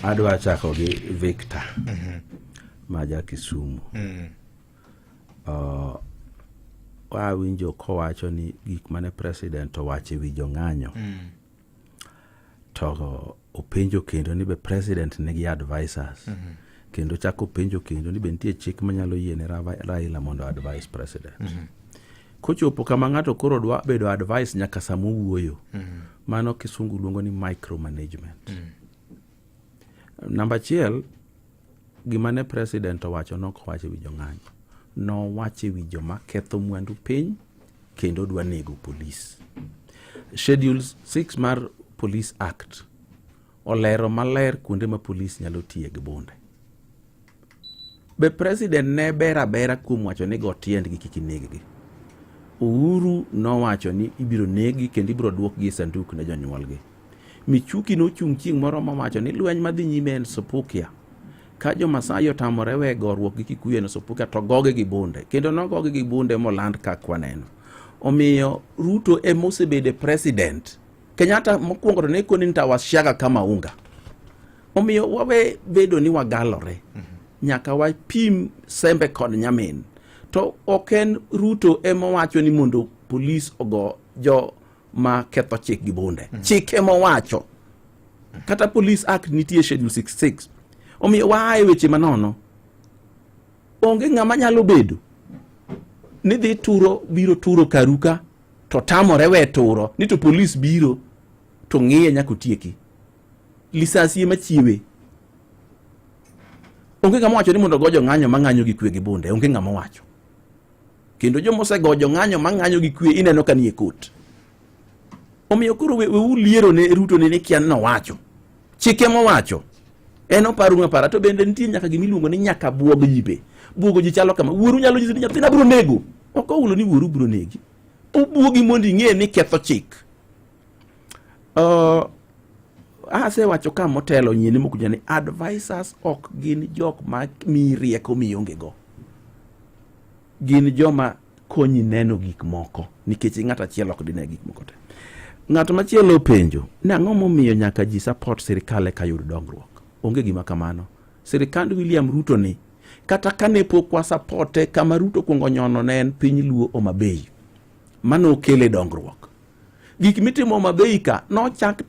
adwa chako gi victor ma ja kisumu uh, wawinjo kowacho ni gik mane president owacho e wi jong'anyo to openjo kendo ni be president nigi advisors kendo chako openjo kendo ni be nitie chik manyalo yiene Ra- raila mondo advise president kochopo kama ng'ato koro dwa bedo advice nyaka sama owuoyo mano kisungu luongo ni micromanagement Namba achiel, gima ne president owacho ne ok owacho e wi jong'anyo. Nowacho e wi joma ketho mwandu piny kendo dwa nego polis. Schedule 6 mar Police Act olero maler kuonde ma polis nyalo tiye gi bunde. Be president ne ber abera kuom wacho ni go tiendgi kik ineggi? Uhuru nowacho ni ibiro negi kendo ibiro duokgi e sanduk ne jonyuolgi. Michuki nochung' chieng' moro mowacho ni lweny madhi nyime en Supukia. Ka jo Masai otamore we goruok gi Kikuyu en Supukia to gogi gi bunde. Kendo nogogi gi bunde moland ka kwaneno. Omiyo Ruto e mosebedo president. Kenyatta mokwongo to ne koni nitawashaga kama unga. Omiyo wawe bedo ni wagalore, mhm. nyaka wapim sembe kod nyamin. To ok en Ruto ema wacho ni mondo polis ogo jo ma ketho chik gi bunde. Mhm. Chik ema wacho. Kata Police Act nitie Schedule 66. Omiyo waa e weche manono. Onge ng'ama nyalo bedo ni dhi turo biro turo karuka to tamore we turo ni to polis biro to ng'iye nyaka otieki. lisasie machiewe. Onge ng'ama wacho ni mondo go jong'anyo mang'anyo gi kwe gi bunde, onge ng'ama wacho. Kendo joma osego jong'anyo mang'anyo gi kwe ineno ka nie kot. Omiyo koro we, wewu liero ne Ruto ne ni kian nowacho. Chike mowacho. En oparu ng'apara to bende nitie nyaka gima iluongo ni nyaka buog ji be. Buogo ji chalo kama. Wuoru nyalo nyisi ni nyathina biro nego. Ok oulo ni wuoru biro negi. Obuogi mondo ing'e ni ketho chik. Uh, asewacho ka motelo nyini mokuja ni advisors ok gin jok ma mi rieko mionge go gin joma konyi neno gik moko nikech ng'at achiel ok dine gik moko te ng'at machielo openjo ni ang'o momiyo nyaka ji support sirikal eka yud dongruok onge gima kamano sirikand William Ruto ni kata kane pok wasapote kama Ruto kuongo nyono ne en piny Luo Homa Bay mano okele dongruok. Gik mitimo mabeika nochak